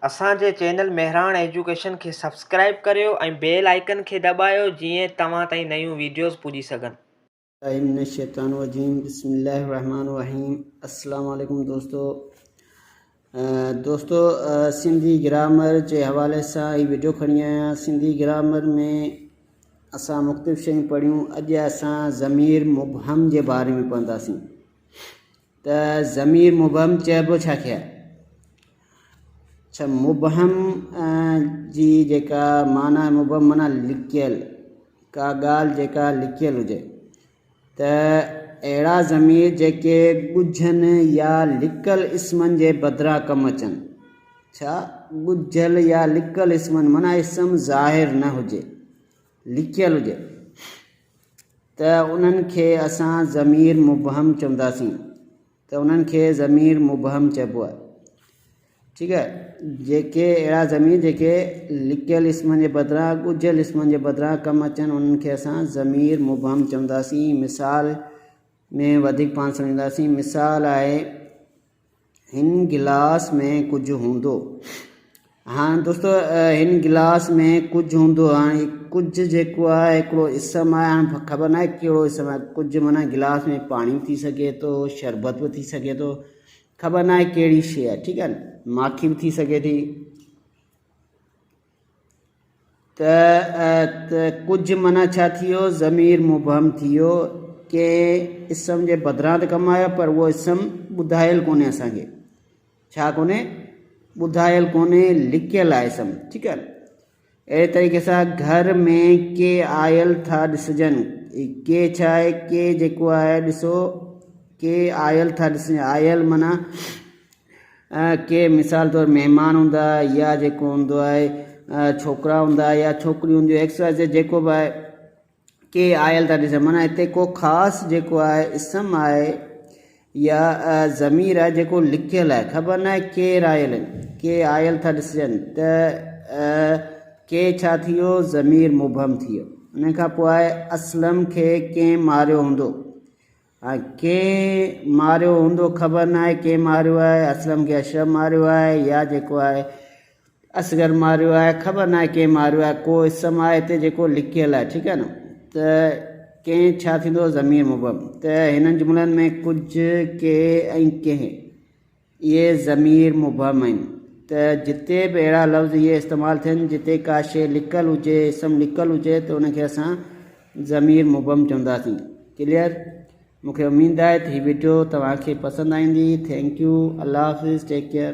اسان جي channel Mehran education کي سبسڪرائيب ڪريو ۽ بيل آئيڪن کي دٻايو جيئن توهان تائين نيون ويڊيوز پڄي سگهن. اعوذ بالله من الشيطان الرجيم بسم الله الرحمن الرحيم السلام عليڪم دوستو دوستو سنڌي گرامر جي حوالي سان هي ويڊيو کڻي آيان سنڌي گرامر ۾ اسان مختلف شيون پڙهيون اڄ اسان ضمير مبهم جي باري ۾ پونداسين ته ضمير مبهم چئبو ڇا کي آهي؟ اڇا مبهم جي جيڪا معنيٰ آهي مبهم معنيٰ لڪيل ڪا ڳالهه جيڪا لڪيل هجي ته اهڙا ضمير جيڪي ڳجهن يا لڪل اسمن جي بدران ڪم اچن ڇا ڳجهل يا لڪل اسمن معنيٰ اسم ظاهر نه هجي لڪيل هجي ته انهن کي اسان ضمير مبهم چونداسين ته انهن کي ضمير مبهم چئبو آهي ٺيڪ آهي جيڪي اهڙا ضمير جيڪي لڪيل اسمن جي بدران ڳجهيل اسمن جي بدران ڪم اچن انهن کي اسان ضمير مبهم چونداسين مثال ۾ وڌيڪ پاڻ سمجهنداسين مثال آهي هن گلاس ۾ ڪجهه هوندو. هاڻ دوستو هن گلاس ۾ ڪجهه هوندو هاڻ هي ڪجهه جيڪو آهي هڪڙو اسم آهي هاڻ خبر ناهي ڪهڙو اسم آهي ڪجهه معنيٰ گلاس ۾ پاڻي به ٿي سگهي ٿو شربت به ٿي سگهي ٿو خبر ناهي ڪهڙي شيء آهي ٺيڪ آهي نه ماکي به ٿي سگهي ٿي ت، ا، ت، ڪجهه معنيٰ ڇا ٿيو؟ ضمير مبهم ٿيو، ڪنهن اسم جي بدران ته ڪم آيو پر اهو اسم ٻڌايل ڪونهي اسان کي، ڇا ڪونهي؟ ٻڌايل ڪونهي، لڪيل آهي اسم، ٺيڪ آهي. اهڙي طريقي سان گهر ۾ ڪي آيل ٿا ڏسجن، ڪي ڇا آهي؟ ڪي جيڪو آهي ڏسو، ڪي آيل ٿا ڏسجن، آيل معنيٰ ڪي مثال طور مهمان هوندا يا جيڪو هوندو آهي ڇوڪرا هوندا يا ڇوڪريون هونديون ايڪس واء زيڊ جيڪو به آهي ڪي آيل ٿا ڏسن معنيٰ هتي ڪو خاص جيڪو آهي اسم آهي يا ضمير آهي جيڪو لکيل آهي خبر ناهي ڪير آيل آهن ڪي آيل ٿا ڏسجن ته ڪي ڇا ٿي ويو ضمير مبهم ٿي ويو ان کان پوء آهي اسلم کي ڪنهن ماريو هوندو هاڻي ڪنهن ماريو هوندو خبر ناهي ڪنهن ماريو آهي اسلم کي اشرف ماريو آهي يا جيڪو آهي اصغر ماريو آهي خبر ناهي ڪنهن ماريو آهي ڪو اسم آهي هتي جيڪو لکيل آهي ٺيڪ آهي نه ته ڪنهن ڇا ٿيندو ضمير مبهم ته هنن جملن ۾ ڪجهه ڪي ۽ ڪنهن اهي ضمير مبهم آهن ته جتي به اهڙا لفظ اهي استعمال ٿين جتي ڪا شيء لڪل هجي، اسم لڪل هجي ته ان کي اسان ضمير مبهم چونداسين. ڪليئر؟ مون کي اميد آهي ته هي وڊيو توهان کي پسند آئيندي. Thank you. الله حافظ. Take care.